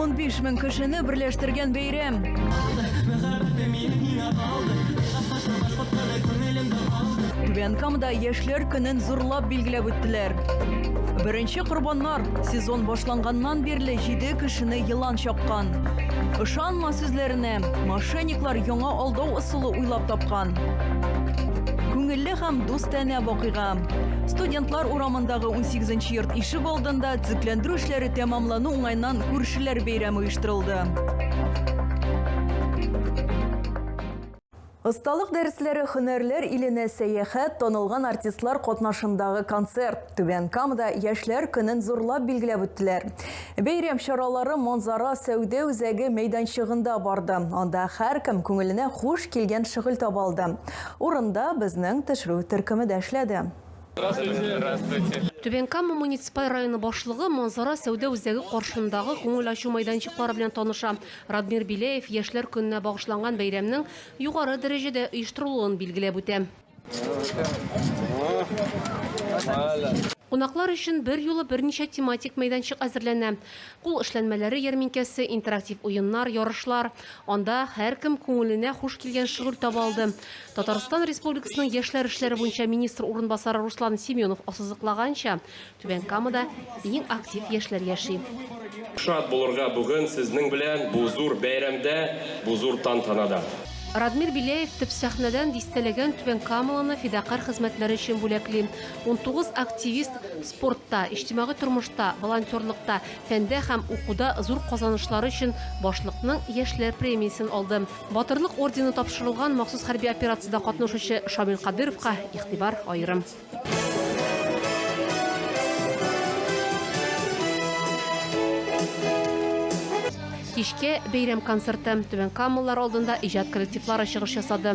Унбиш мең кешене берләштергән бәйрәм. Түбән Камада яшьләр көнен зурлап билгеләп үттеләр. Беренче корбаннар сезон башланганнан бирле җиде кешене елан чаккан. Ышанма сүзләренә, мошенниклар яңа алдау ысулы уйлап тапкан. Күңелле һәм дустанә вакыйга. Студентлар урамындагы 18 нче йорт ишек алдында төзекләндерү эшләре тәмамлану уңаеннан күршеләр бәйрәме оештырылды. Осталык дәресләре, хөнәрләр иленә сәяхәт, танылган артистлар катнашындагы концерт. Түбән Камада яшьләр көнен зурлап билгеләп үттеләр. Бәйрәм чаралары Монзара сәүдә үзәге мәйданчыгында барды. Анда һәркем күңеленә хуш килгән шөгыль таба алды. Урында безнең төшерү төркеме дә эшләде. Түбән Кама муниципаль районы башлыгы Манзара сәүдә үзәге каршындагы күңел ачу мәйданчыклары белән таныша. Радмир Беляев Яшьләр көненә багышланган бәйрәмнең югары дәрәҗәдә оештырылуын билгеләп үтә. Кунаклар өчен берьюлы берничә тематик мәйданчык әзерләнә. Кул эшләнмәләре ярминкәсе, интерактив уеннар, ярышлар. Анда һәркем күңеленә хуш килгән шөгыль таба алды. Татарстан Республикасының яшьләр эшләре буенча министр урынбасары Руслан Семенов ассызыклаганча, Түбән Камада иң актив яшьләр яши. Шат булырга бүген сезнең белән бу зур бәйрәмдә, бу зур тантанада. Радмир Беляев төп сәхнәдән дистәләгән түбәнкамалыны фидакарь хезмәтләре өчен бүләкли. 19 активист спортта, иҗтимагый тормышта, волонтерлыкта, фәндә һәм укуда зур казанышлары өчен башлыкның яшьләр премиясен алды. Батырлык ордены тапшырылган махсус хәрби операциядә катнашучы Шамил Кадыровка игътибар аерым. Кичке бәйрәм концерты. Түбән Камалылар алдында иҗат коллективлары чыгыш ясады.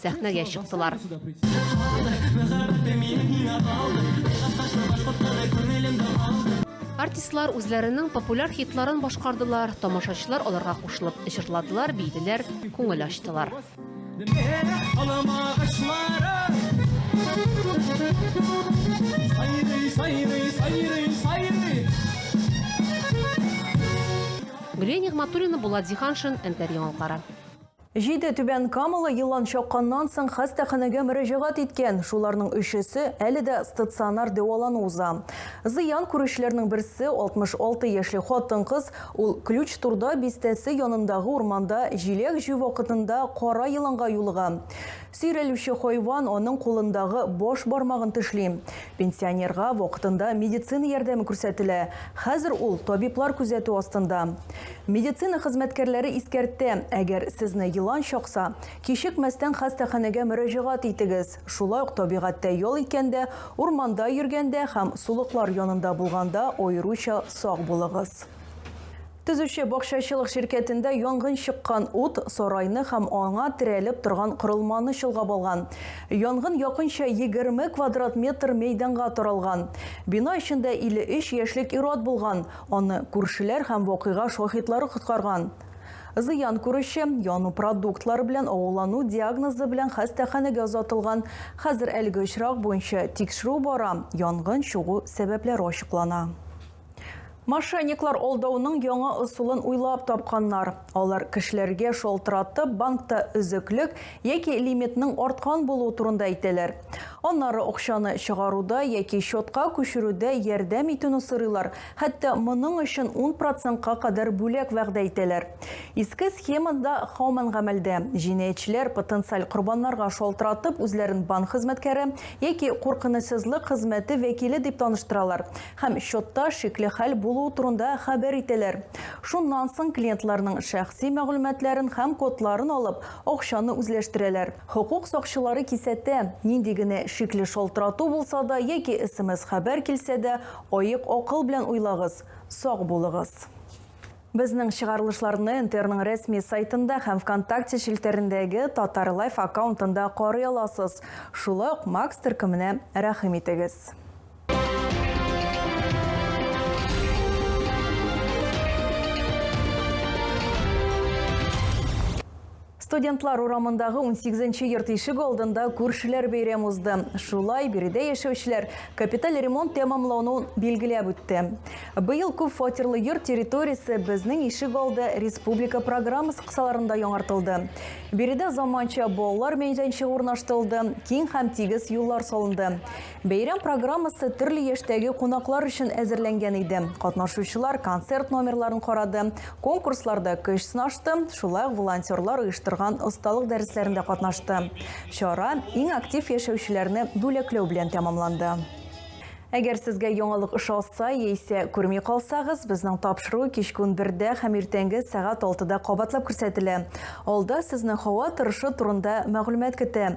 сәхнәгә чыктылар. Артистлар үзләренең популяр хитларын башкардылар, тамашачылар аларга кушылып җырладылар, бийделәр, күңел ачтылар. Гөлия Нигматуллина, Булат Зиханшин, Эльдар Яңалкара. Җиде түбән камалы елан чакканнан соң хастаханәгә мөрәҗәгать иткән, шуларның өчесе әле дә стационар дәвалану уза. Зыян күрүчеләрнең берсе, 66 яшьле хатын-кыз, ул Ключ-Турда бистәсе янындагы урманда җиләк җыю вакытында кара еланга юлыга. Сөйрәлүче хайван аның кулындагы баш бармагын тешли. Пенсионерга вакытында медицина ярдәме күрсәтелә, хәзер ул табиблар күзәтү астында. Медицина хезмәткәрләре искәртә, әгәр сезне елан чакса, кичекмәстән хастаханәгә мөрәҗәгать итегез. Шулай ук табигатьтә ял иткәндә, урманда йөргәндә һәм сулыклар янында булганда аеруча сак булыгыз. Төзүче бакчачылык ширкәтендә янгын чыккан, ут сарайны һәм аңа терәлеп торган корылманы чолгап алган. Янгын якынча 20 квадрат метр мәйданга таралган. Бина эчендә 53 яшьлек ир-ат булган, Аны күршеләр һәм вакыйга шаһитлары коткарган. Зыян күрүче, яну продуктлары белән агулану диагнозы белән хастаханәгә озатылган. Хәзер әлеге очрак буенча тикшерү бара, янгын чыгу сәбәпләре ачыклана. Мошенниклар алдауның яңа ысулын уйлап тапканнар. Алар кешеләргә шалтыратып банкта өзеклек яки лимитның арткан булуы турында әйтәләр. Аннары акчаны чыгаруда яки счетка күчерүдә ярдәм итүне сорыйлар, хәтта моның өчен ун процентка кадәр бүләк вәгъдә итәләр. Иске схема да һаман гамәлдә. Җинаятьчеләр потенциаль корбаннарга шалтыратып үзләрен банк хезмәткәре яки куркынычсызлык хезмәте вәкиле дип таныштыралар һәм счетта шикле хәл булуы турында хәбәр итәләр. Шуннан соң клиентларның шәхси мәгълүматларын һәм кодларын алып, акчаны үзләштерәләр. Хокук сакчылары кисәтә, нинди генә шикле шалтырату булса да яки смс-хәбәр килсә дә, аек акыл белән уйлагыз, сак булыгыз. Безнең чыгарылышларны НТРның рәсми сайтында һәм ВКонтакте челтәрендәге Татар Лайф аккаунтында карый аласыз. Шулай ук Макс төркеменә рәхим итегез. Студентлар урамындагы 18-нче йорт ишек алдында күршеләр бәйрәм узды. Шулай биредә яшәүчеләр капиталь ремонт тәмамлануын билгеләп үтте. Быел күп фатирлы йорт территориясе безнең ишек алды республика программасы кысаларында яңартылды. Биредә заманча балалар мәйданчыгы урнаштырылды, киң һәм тигез юллар салынды. Бәйрәм программасы төрле яшьтәге кунаклар өчен әзерләнгән иде. Катнашучылар концерт номерларын карады, конкурсларда көч сынашты, шулай ук волонтерлар оештырган осталык дәресләрендә катнашты. Чара иң актив яшәүчеләрне бүләкләү белән тәмамланды. Әгәр сезгә яңалык ошаса яисә күрми калсагыз, безнең тапшыру кичке унбердә һәм иртәнге сәгать алтыда кабатлап күрсәтелә. Алда сезне һава торышы турында мәгълүмат көтә.